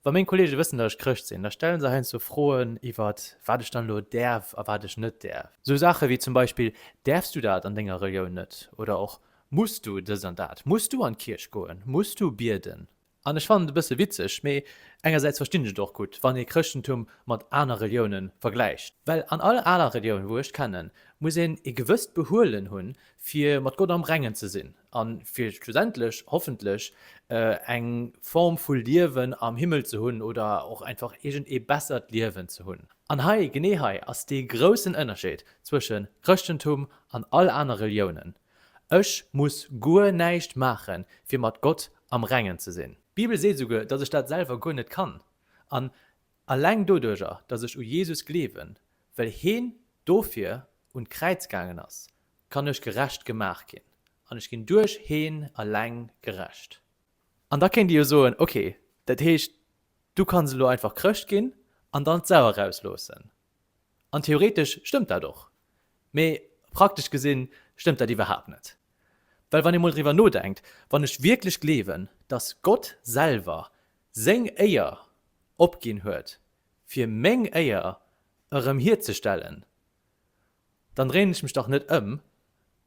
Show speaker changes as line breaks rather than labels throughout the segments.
Wa meng Kollege wëssen, datt ech Chrëscht sinn, da stelle se heiansdo Froen iwwer wat ech dann elo däerf a wat ech net däerf. Sou Saache wéi zum Beispill, Däerfs du dat an denger Relioun net? Oder och, Muss du dëst an dat? Muss du an d'Kierch goen? Muss du bieden? An ech fannen et e bësse witzeg, mee engersäits verstinn ech et och gutt, wann ee Chrëschtentum mat aner Relioune vergläicht. Well an all aner Relioun, wou ech d'kennen, muss een e gewësst Behuelen hunn, fir mat Gott am Rengen ze sinn. a fir schlussendlech hoffentlech eng Form vu Liewen am Himmel ze hunn oder och einfach iergend ee bessert Liewen ze hunn. An hei, genee hei ass dee groussen Ënnerscheed zwësche Chrëschtentum an all aner Reliounen, Ech muss guer näischt maache fir mat Gott am Rengen ze sinn. D'Bibel seet esouguer, datt ech dat selwer guer net kann, an alleng doduerger, datt ech u Jesus gleewen, well heen dofir un d'Kräiz gaangen ass, kann ech gerecht gemaach ginn, an ech ginn duerch heen alleng gerecht. An da kéint Dir jo soen, Ok, dat heescht, du kanns elo einfach Chrëscht ginn an dann d'Sau erausloossen. An theoretesch stëmmt dat och, mee praktesch gesi stëmmt dat iwwerhaapt net. Well wann ee mol driwwer nodenkt, wann ech wierklech gleewen, dass Gott selwer Seng Éier opginn huet, fir meng Éier erëm hierzestellen, Dann dréien ech mech dach net ëm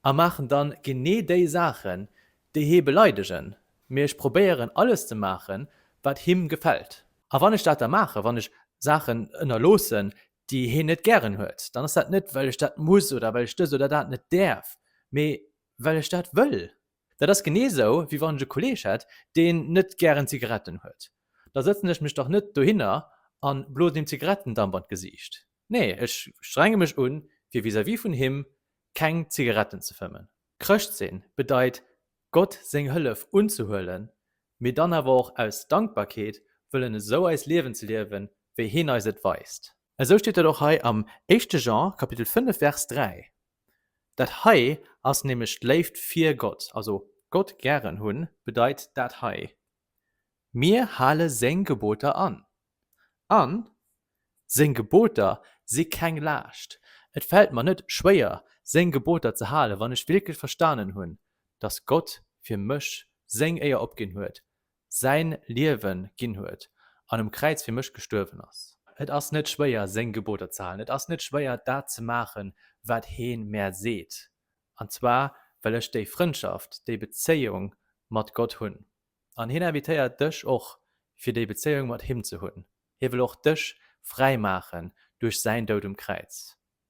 a maachen dann genee déi Saachen, déi hie beleidegen, mee ech probéieren alles ze maachen, wat him gefält. A wann ech dat da maachen, wann ech Saachen ënnerloossen, déi hien net gären huet, dann ass dat net, well ech dat muss oder well ech dëst oder dat net däerf, mee well ech dat wëll. Dat ass genee esou, wéi wann ech e Kolleeg hätt, deen net gären Zigaretten huet. Da sëtzen ech mech dach net dohinner a blosen him Zigarettendamp an d'Gesiicht. Nee, ech strenge mech un, fir vis-à-vis vun him keng Zigaretten ze fëmmen. Chrëscht sinn bedeit, Gott seng Hëllef unzehuelen, mee dann awer och aus Dankbarkeet wëllen esou eist Liewen ze liewen, wéi hien eis et weist. Esou steet et och hei am éischte Jean Kapitel 5 Vers 3. Dat hei ass nämlech d'Léift fir Gott, also Gott gären hunn bedeit dat hei. Mir hale Seng Geboter an. An, Seng Geboter si keng Laascht. Et fält mer net schwéier, Seng Geboter ze halen, wann ech wierklech verstanen hunn, dass Gott fir mech Seng Éier opginn huet, Säin Liewe ginn huet an um Kräiz fir mech gestuerwen ass. Et ass net schwéier, Seng Geboter ze halen. Et ass net schwéier, dat ze maachen, wat Hie mär seet, an zwar well ech déi Frëndschaft, déi Bezéiung mat Gott hunn. An hien invitéiert dech och, fir déi Bezéiung mat him ze hunn. Hie wëll och dech fräi maachen duerch säin Doud um Kräiz.